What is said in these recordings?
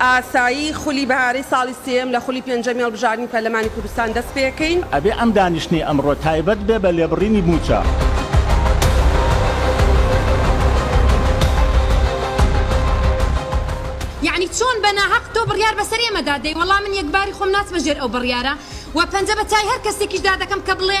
ئاسایی خولی بەهارەی ساڵی سێیەم لە خولی پێنجەمی هەڵبژاردنی پەرلەمانی کوردستان دەست پێکەین. ئەبێ ئەم دانیشتنەی ئەمڕۆ تایبەت بێ بە لێبڕینی مووچە. یەعنی چۆن بە ناهەق تۆ بڕیار بەسەر ئێمەدا دەی وەڵا من یەکباری خۆم ناچمە ژێر ئەو بڕیارە و پەنجە بە چای هەر کەسێکیشدا دەکەم کە بڵێ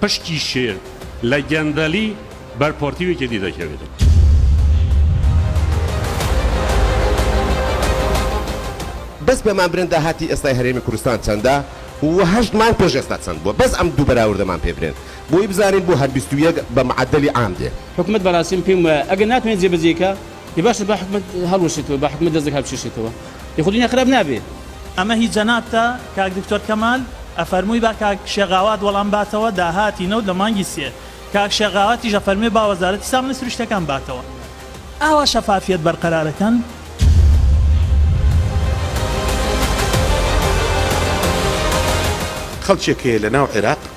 پشکی شێر لە گەندەلی بەر پۆرتی ویکێتی دەکەوێتەوە. بەس بە مامبرن داهاتی ئێستای هەرێمی کوردستان چەندە و هەشت مانگ پێش ئێستا چەند بووە بەس ئەم دوو بەراوردەمان پێ برێن بۆی بزانین بۆ هەر بیست و یەک بە معەدەلی عام دێ. حکومەت بەراسم پێم وایە ئەگەر ناتوانێت جێبەجێی کا. ئێ باشە با حکومەت هەڵوەشێتەوە با حکومەت دەستێک هەڵبکێشێتەوە ئێ خۆ دونیا خراپ نابێ. ئەمە هی جەنابتە کاک دکتۆر کەمال، ئەفەرمووی با کاک شێخ غاوات وەڵام باتەوە داهاتی نەوت لە مانگی سێ، کاک شێخ غاواتیش ئەفەرموێ با وەزارەتی سامانە سروشتیەکان باتەوە. ئاوا شەفافیەت بەرقەرار ئەکەن؟ خەڵکێک هەیە لەناو عێراق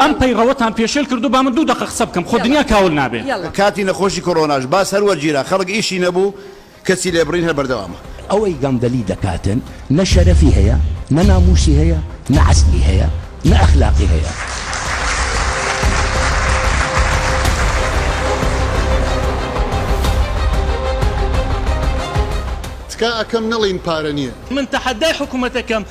ئەم پەیڕەوەتان پێشێل کردوو با من دوو دەقە قسە بکەم خۆ دنیا کاول نابێ. لە کاتی نەخۆشی کۆرۆناش باس هەر وەرگیرا خەڵک ئیشی نەبوو کەچی لێبڕین هەر بەردەوامە. ئەوەی گەندەلی دەکاتن نە شەرەفی هەیە نە ناموسی هەیە نە عەزمی هەیە نە ئەخلاقی هەیە. تکا ئەکەم نەڵێین پارە نیە. من تەحەدای حکومەتەکەم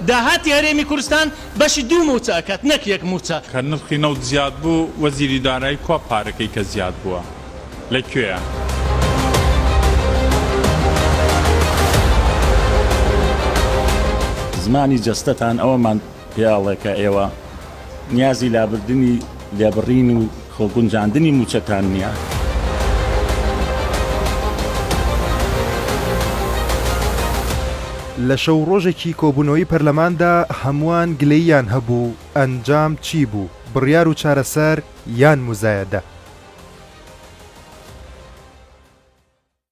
داهاتی هەرێمی کوردستان بەشی دوو مووچە ئەکات نەک یەک مووچە. کە نرخی نەوت زیاد بوو وەزیری دارایی کوا پارەکەی کە زیاد بووە لە کوێیە؟ زمانی جەستەتان ئەوەمان پێ ئەڵێ کە ئێوە نیازی لابردنی لێبڕین و. خۆ گونجاندنی مووچەتان نییە. لە شەو و ڕۆژێکی کۆبوونەوەی پەرلەماندا هەمووان گلەییان هەبوو، ئەنجام چی بوو، بڕیار و چارەسەر یان موزایەدە؟